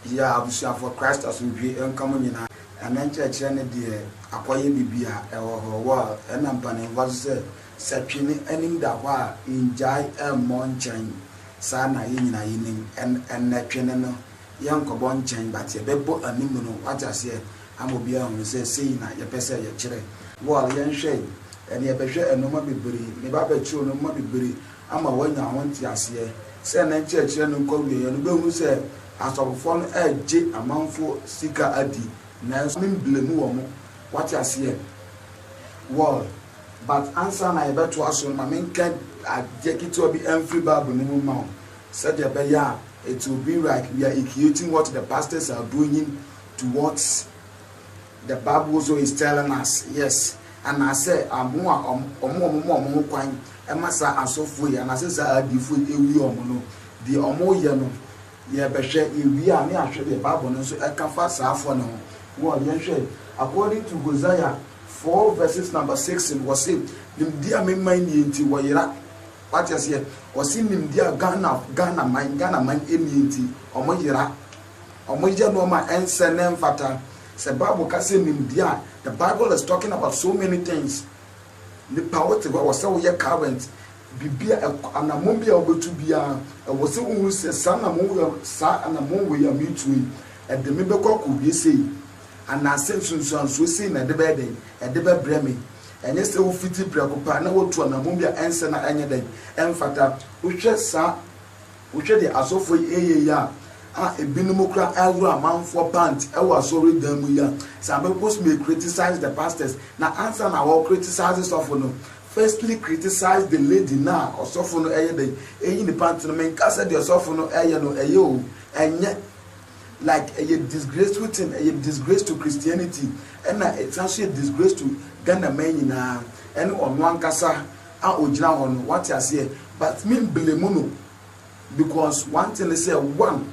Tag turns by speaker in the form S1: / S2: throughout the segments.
S1: Yɛ abusuafoɔ Christ asomdwie nka mo nyinaa. Ɛnɛ nkyerɛkyerɛ no deɛ akɔyɛ bibi a ɛwɔ hɔ well ɛna mpaninfoɔ nso sɛ sɛ twene anim da hɔ a ngyae mmɔ nkyɛn saa na yɛ nyinaa yɛ nim ɛn ɛnɛ twene no yɛ nkɔbɔ nkyɛn but yɛ bɛ bɔ anim no wate aseɛ ama obiara ahunu sɛ sei na yɛ pɛ sɛ yɛ kyerɛ well yɛ nhwɛ ɛnɛ yɛ bɛ hwɛ ɛnɔma bebree me ba bɛkyerɛ nɔma bebree. ama wɔanya ho nteaseɛ. Sɛ ne nkyerɛkyerɛ no nkɔ awieɛ no, wobɛhunu sɛ asɔfofoɔ no regye amanfoɔ sika adi, nanso me mblame wɔn, wate aseɛ? Well, but ansa na yɛbɛtoa so no, ma menka adeɛ ketewa bi mfiri Bible no mu mma wo, sɛdeɛ ɛbɛyɛ a it will be like we are equating what the pastors are doing towards. The Bible also is telling us, yes, anaasɛ wɔn a wɔn a wɔma wɔn ho kwan ma saa asɔfoɔ yi anaasɛ saa adiyifoɔ yi ɛwie wɔn no, deɛ wɔyɛ no, yɛbɛhwɛ, yɛwie a ne yɛahwɛ deɛ Bible no nso ɛka fa saa foɔ no ho. Wɔn, yɛnhwɛ, according to Hosea four verses number six no, wɔse, nimdeɛ a me man nie nti wɔyera. Wate aseɛ? Wɔse nimdeɛ a Ghana, Ghana man, Ghana man nie nti wɔyera. Wɔyɛ nneɛma a ɛnsɛ na ɛmfata. Sɛ Bible ka sɛ nimdeɛ a, the Bible is talking about so many things. Nipa a wote hɔ a, ɛwɔ sɛ woyɛ current. Biribi a, anammɔn bi a wobɛtu biara, ɛwɔ sɛ wohu sɛ saa anammɔn wei a, saa anammɔn wei a meretu yi, ɛde me bɛkɔ akɔwie sei? Anaasɛ nsunsuansoɔ sei na ɛde bɛyɛ dɛn? Ɛde bɛbrɛ me? Ɛnyɛ sɛ wofiti prɛko pɛ a na woatu anammɔn bi a ɛnsɛ na ɛnyɛ dɛn? Ɛmfata. Wohwɛ saa. Wohwɛ de asɔfoɔ yi reyɛ yi a, a ebinom koraa reworo amanfoɔ pant wɔ asɔredan mu yi a, some peoples may criticize the pastors, na ansa na wɔ criticize sɔfo no, firstly criticize the lady no a ɔsɔfo no reyɛ dɛn reyi ne pant no. Menka sɛ deɛ ɔsɔfo no reyɛ no ɛyɛ o, ɛnyɛ, like ɛyɛ disgraceful thing, ɛyɛ disgrace to Christianity, ɛna ɛsan nso yɛ disgrace to Ghana man nyinaa, ɛne ɔno ankasa. a ogyina hɔ no wate aseɛ but me blame no because one thing ne sɛ one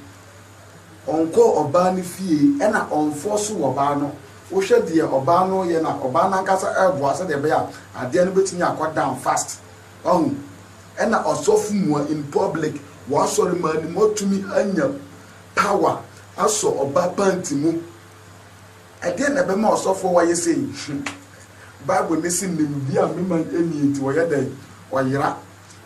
S1: ɔnkɔɔ ɔbaa no fie ɛna ɔnfɔɔso ɔbaa no wohwɛ deɛ ɔbaa no yɛ no a ɔbaa no ankasa ɛboa sɛdeɛ ɛbɛyɛ a adeɛ no bɛtumi akɔ down fast wahu ɛna ɔsɔfo mua in public wɔ asɔre maa no mu atumi anya power asɔ ɔbaa panti mu. Ɛdeɛn na ɛbɛma ɔsɔfoɔ wayɛ sei? Bible no se nimdeɛ a me man nnie nti wɔyɛ dɛn? Wɔyera.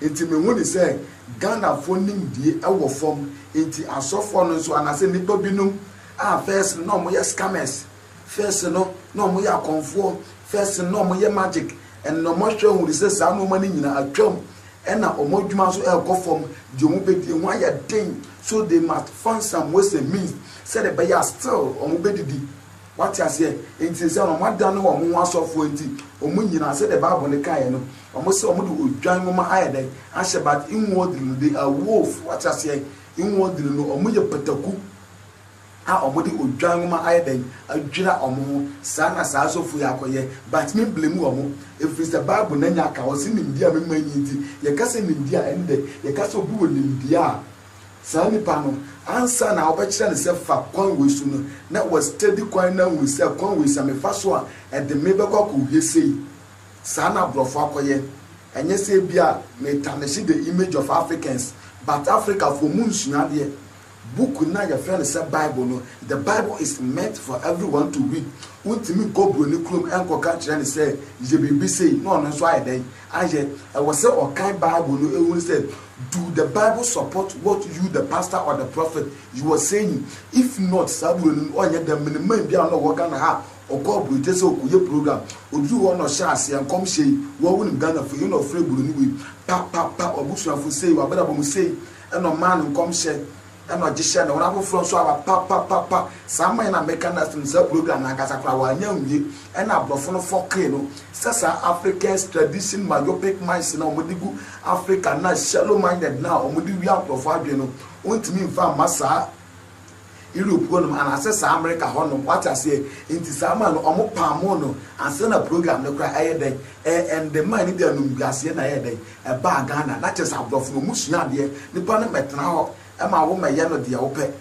S1: Nti me hu no sɛ Ghanafoɔ nimdie wɔ fam nti asɔfoɔ no nso anaasɛ nnipa binom a first no na wɔyɛ scammers, first no na wɔyɛ akɔmfoɔ, first no na wɔyɛ magic and wɔahwɛ ahunu sɛ saa nnoɔma no nyina atwam Ɛnna wɔn adwuma nso rekɔ fam, deɛ wɔbɛdi, ɛho ayɛ den, so they must find some ways and means, sɛdeɛ ɛbɛyɛ a still wɔbɛdidi. Woate aseɛ? Enti seesei no wɔadane wɔn ho asɔfoɔ nti, wɔn nyinaa, sɛdeɛ Bible no kaeɛ no, wɔsɛ wɔde odwan nwoma ayɛ dɛn? ahyɛ, but inwardly no, they are wolf. Woate aseɛ? Inwardly no, wɔyɛ pataku. a wɔde odwan nwoma ayɛ dɛn adwira wɔn ho saa na saa asɔfo yi akɔyɛ but me blame wɔn ɛfiri sɛ bible na nya ka ɔse nimdeɛ a me ma nyi nti yɛka sɛ nimdeɛ a ɛndɛ yɛka sɛ obi wɔ nimdeɛ a saa nipa no ansa na wobɛkyerɛ no sɛ fa kwan wei so no na wa study kwan na ahunu sɛ kwan wei sɛ me fa so a ɛde me bɛkɔ akɔwie sei saa na aborɔfo akɔyɛ ɛnyɛ sɛ ebia me tarnish the image of Africans but Africafoɔ mu nsua adeɛ Book no a wɔfrɛ no sɛ Bible no, The Bible is meant for everyone to read. Wontumi nkɔ buroni kurom nkɔka nkyerɛ no sɛ, Yɛ biribi sei, na ɔno nso ayɛ dɛn? Ayɛ. Ɛwɔ sɛ ɔkan Bible no hunu sɛ, Do the Bible support what you, the pastor or the prophet, you are saying? If not, saa buroni no ɔnyɛ dɛm. Menim man bi a na ɔwɔ Ghana ha a, ɔkɔɔ aburokyire sɛ ɔrekɔyɛ program. Ɔduruu hɔ no na ɔhyɛɛ aseɛ, Nkɔmhyɛ yi, wo ara wonim Ghanafoɔ yi, ɛna ɔfrɛɛ buroni wei, Pa, pa, pa, w'abusuafoɔ sei, w'abrabɔ mu sei, Ɛna ɔmaa no nkɔmhyɛ, ɛna ɔgye hyɛɛ ne hɔ, na afoforɔ nso aba pa pa pa pa. Saa aman yi na meka no last no, saa program no ankasa koraa wɔannya anwie, ɛna aborɔfo no fɔkee no sɛ saa Africans tradition myopic minds no a wɔde gu Africa no a shallow minded no a wɔde wia nkorɔfoɔ adwene no, wɔntumi mfa mma saa. Europe hɔ nom anasɛ saa America hɔ nom wate aseɛ nti saa man no ɔmo paamoo no ansa na program no koraa ɛyɛ dɛn ɛɛnde man no de anumguaseɛ na ɛyɛɛ dɛn ɛbaa Ghana na kyerɛ sɛ abrɔfo no ɔmo sua adeɛ nipa no mmɛtena hɔ ɛma wo mmɛyɛ no deɛ wopɛ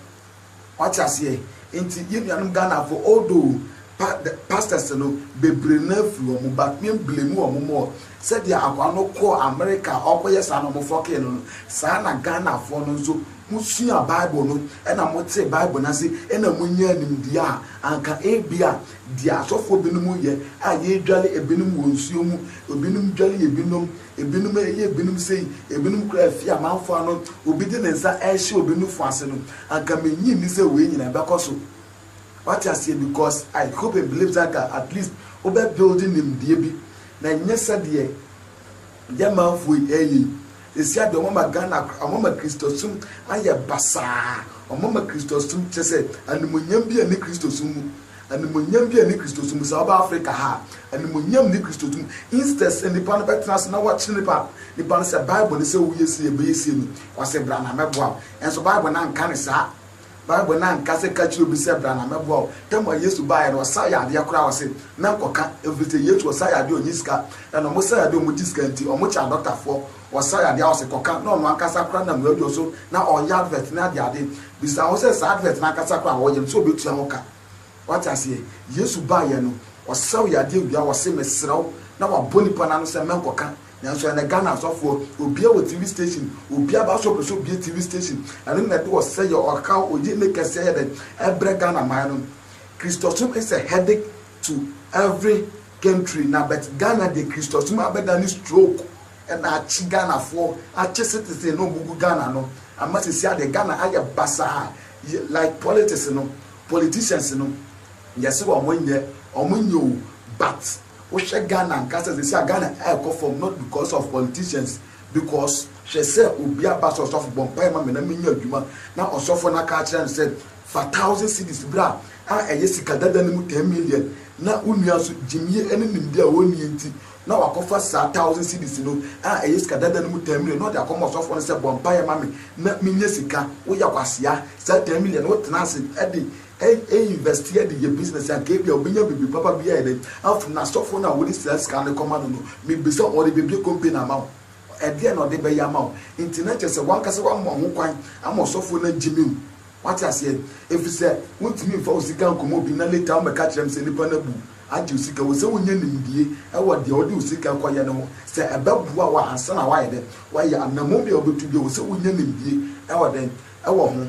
S1: wate aseɛ nti yɛn nuanom Ghanafoɔ although pa pastors no bebree no afiri hɔ mo but me blame wɔn more sɛdeɛ akwaa no kɔɔ America ɔɔkɔyɛ saa na ɔmo fɔkee no no saa na Ghanafoɔ no nso Musuaa Bible no na motee Bible no ase na munyaa nimdeɛ a anka ebia deɛ asɔfoɔ binom yɛ a yɛdware ebinom wɔ nsuo mu, ebinom dware ebinom, ebinom yɛ ebinom sei, ebinom kora afie amanfoɔ ano, obi de ne nsa rehyɛ obi nufoɔ ase no, anka mennye nni sɛ wei nyinaa ɛbɛkɔ so. Wate aseɛ? Because I hope and believe sɛ anka at least wobɛ build nimdeɛ bi na nyɛ sɛdeɛ German foɔ yi eii sɛsi adeɛ ɔmo ama Ghana koraa ɔmo ama Christosum ayɛ basaa ɔmo ama Christosum kyerɛ sɛ animonyam bi ɛne Christosum mu animonyam bi ɛne Christosum mu saa ɔba Africa ha animonyam ne Christosum instead sɛ nipa no bɛtena ase na wakyerɛ nipa nipa no sɛ bible no sɛ woyɛ sei ɛbɛyɛ sei no wasɛ bra na mɛboa wo ɛnso bible no anka no saa. Bible no annka sɛ ka kyerɛ obi sɛ bra na mɛboa wo. Tam a Yesu baeɛ no ɔsa yadeɛ koraa ɔse mɛnkɔka ɛfirisɛ Yesu ɔsa yadeɛ ɔnyi sika ɛna ɔmo sa yadeɛ ɔmo gye sika nti ɔmo kyaa dɔktafoɔ ɔsa yadeɛ a ɔse kɔka na ɔno ankasa koraa nam radio so na ɔyɛ advert ne adeade bisa ho sɛ saa advert no ankasa koraa ɔyɛ no sɛ ɔbɛtua ho ka wate aseɛ Yesu baeɛ no ɔsaw yadeɛ wie a ɔse mesrɛ wo na wabɔ nipa no ano sɛ mɛnkɔka Nanso ɛnɛ Ghana asɔfoɔ, obia wɔ TV station, obia ba so pɛsɛ obue TV station, ɛno na ɛde ɔsɛeɛ, ɔhaw, oyene kɛseɛ ayɛ dɛn ɛbrɛ Ghana man no. Kristosom is a headache to every country na but Ghana deɛ Kristosom abɛdane stroke na akye Ghanafoɔ, akye citizen na wɔgu Ghana no ama sesia deɛ Ghana ayɛ basaa like politics no, politicians no yɛse wɔn nyɛ, wɔn nyɛ o but. Wohwɛ Ghana ankasa sɛsi a Ghana ɛɛkɔ fam not because of politicians because hwɛ sɛ obi aba sɛ ɔsɔfo bɔ mpaeɛ ma me na menya adwuma na ɔsɔfo no aka akyerɛ no sɛ fa thousand cedis bra a ɛyɛ sika dada no mu ten million na wo nua nso gyimyie ne nimdeɛ a ɔnnie nti na wakɔfa saa thousand cedis no a ɛyɛ sika dada no mu ten million na ɔde akɔma ɔsɔfo no sɛ bɔ mpaeɛ ma me na menya sika woyɛ kwasea saa ten million no wotena ase de Ɛnyɛ invest yɛ de yɛ business anka ebia obenya biribi papa bi ayɛ dɛn afom n'asɔfo no a wode saa sika no kɔma no no mibisa ɔde bebue company ama wo ɛdeɛn na ɔde bɛyɛ ama wo nti na kyerɛ sɛ wankasa wama ho kwan ama ɔsɔfo no agyimi wo wate aseɛ efisɛ wontumi mfa wo sika nkɔma obi na later wommɛka kyerɛ me sɛ nipa no abu agye wo sika wɔ sɛ wonya nimdie ɛwɔ deɛ wode wo sika kɔyɛ no ho sɛ ɛbɛboa wo ansa na woayɛ dɛn woayɛ anammɔn bi a wobetu biara wɔ sɛ wonya nimdie ɛwɔ dɛn ɛwɔ ho.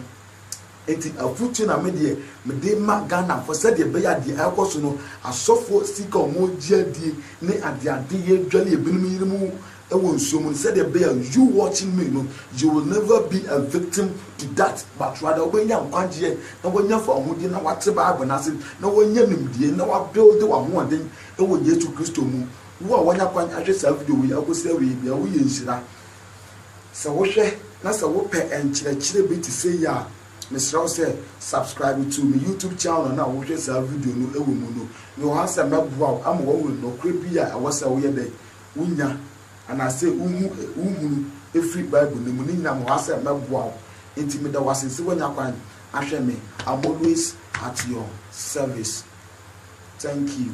S1: Enti afotu na me deɛ mede rema Ghanafoɔ sɛdeɛ ɛbɛyɛ a deɛ ɛrekɔ so no, asɔfoɔ sika a wɔregye adie ne adeadeyɛ dware a binom yere mu wɔ nsuo mu no, sɛdeɛ ɛbɛyɛ a you watching me no, you will never be a victim to that but rather wobɛnya nkwagyeɛ na woanya fawohodie na woate Bible no ase na woanya nimdeɛ na woabuilde w'ahoɔden wɔ Yesu Kristo mu. Wo a woanya kwan ahwɛ saa video wei akɔsi awieeɛ biara, woyɛ nhyira. Sɛ wohwɛ na sɛ wopɛ nkyerɛkyerɛ bi te sɛ yi a, mesrɛ wo sɛ subscribe to me YouTube channel na wohwɛ saa video no wɔ mu no. Mewɔ ha sɛ mɛboa wo ama woahu nokorɛ bi a ɛwɔ sɛ woyɛ dɛn? Wonya anaasɛ wohu, wohunu firi Bible no mu. Ne nyinaa mewɔ ha sɛ mɛboa wo. Enti meda wo ase sɛ woanya kwan ahwɛ me. I'm always at your service. Thank you.